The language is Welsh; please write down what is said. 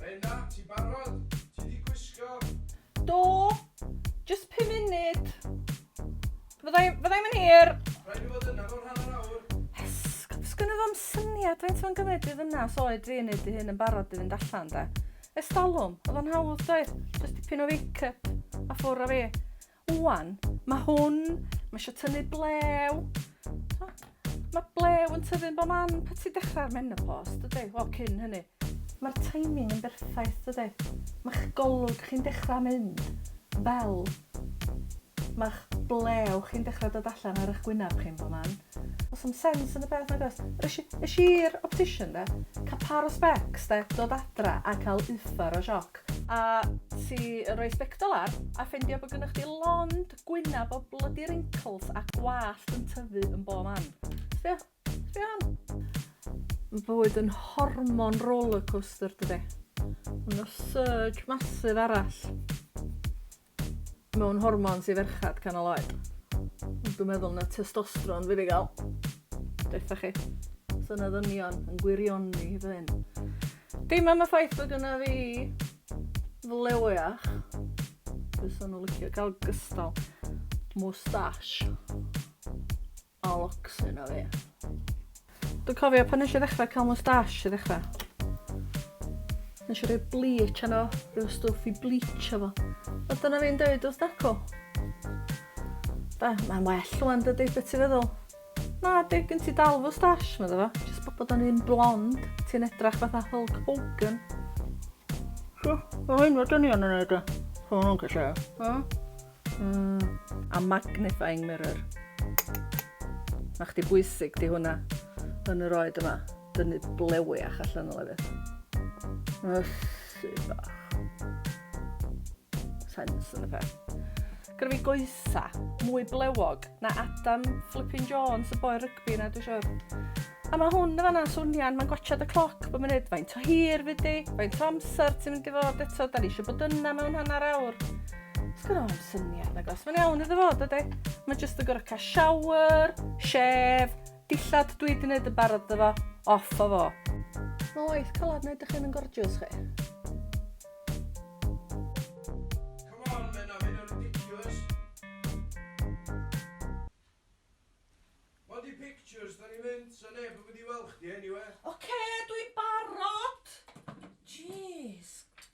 Rhena, ti barod? Ti di gwisgo? Do, just pum munud. Fyddai, fyddai'm yn hir. Rhaid i fod yna mewn hanner awr. Esg, sgynno fo'm syniad faint fo'n gymryd i ddynas oed fi yn ei dy hyn yn barod i fynd allan, de. Estalwm, oedd o'n hawdd, doedd? Just tipyn o wake-up a ffwr o fi. Ŵan, ma' hwn, ma' isio tynnu blew. Mae blew yn tyfu'n bob man pan ti'n dechrau'r menopos, dydy? Wel, cyn hynny. Mae'r timing yn berffaith, dydy? Mae'ch golwg chi'n dechrau mynd fel mae'ch blew chi'n dechrau dod allan ar eich gwyneb chi'n bob man. Does dim sens yn y peth nag oes? Es i, es i i'r optician de, cael par o specs de, dod adra a cael uffar o sioc. A ti yn rhoi sbectol ar a ffeindio bod gennych chdi lond gwyneb o bloody wrinkles a gwallt yn tyfu yn bob man. Sbio, sbio hwn. Mae bywyd yn hormon rollercoaster dydy. Mae 'na surge massive arall. mewn hormons i ferchad canol oed. Dwi'n meddwl na testosteron fydd i gael. Deutha chi. So na ddynion yn gwirioni fy hyn. Dim am y ffaith bod gynna fi flewiach. Fysa nhw licio cael gystal moustache. A locks yno fi. Dwi'n cofio pan nes i ddechrau cael moustache i ddechrau. Nes i roi bleach yno, rhyw stwff i bleach efo. A dyna fi'n dweud wrth Dacw. Da, mae'n well rwan dydy, beth ti'n feddwl? Na, di, gen ti dal moustache, meddwl fo. Jyst bod o'n un blond, ti'n edrach fatha Hulk Hogan. So, o hyn fod dynion yn neud o. Hwnnw'n gallu. Mm, a magnifying mirror. Na chdi bwysig di hwnna yn yr oed yma. Dynu blewi a allan o lefydd. Ysu bach. Sens yn y peth. Gyda fi goesa, mwy blewog na Adam Flippin Jones, y boi cloc fi na dwi siwr. A mae hwn yn fanna'n swnio'n, mae'n gwachad y cloc bod munud, faint o hir fi di, faint o amser ti'n mynd i fod eto, da ni eisiau bod yna mewn hanner awr. Sgwrna o'n syniad na gos, mae'n iawn iddo fod ydy. Mae jyst yn gorau cael shower, shef, dillad dwi wedi gwneud yn barod iddo fo, off o fo. Mae waith calad wneud ych yn gorgeous chi. Body pictures da ni'n mynd so neb yn mynd i wel chdi eniwe. Ocê dwi'n barod! Jeez.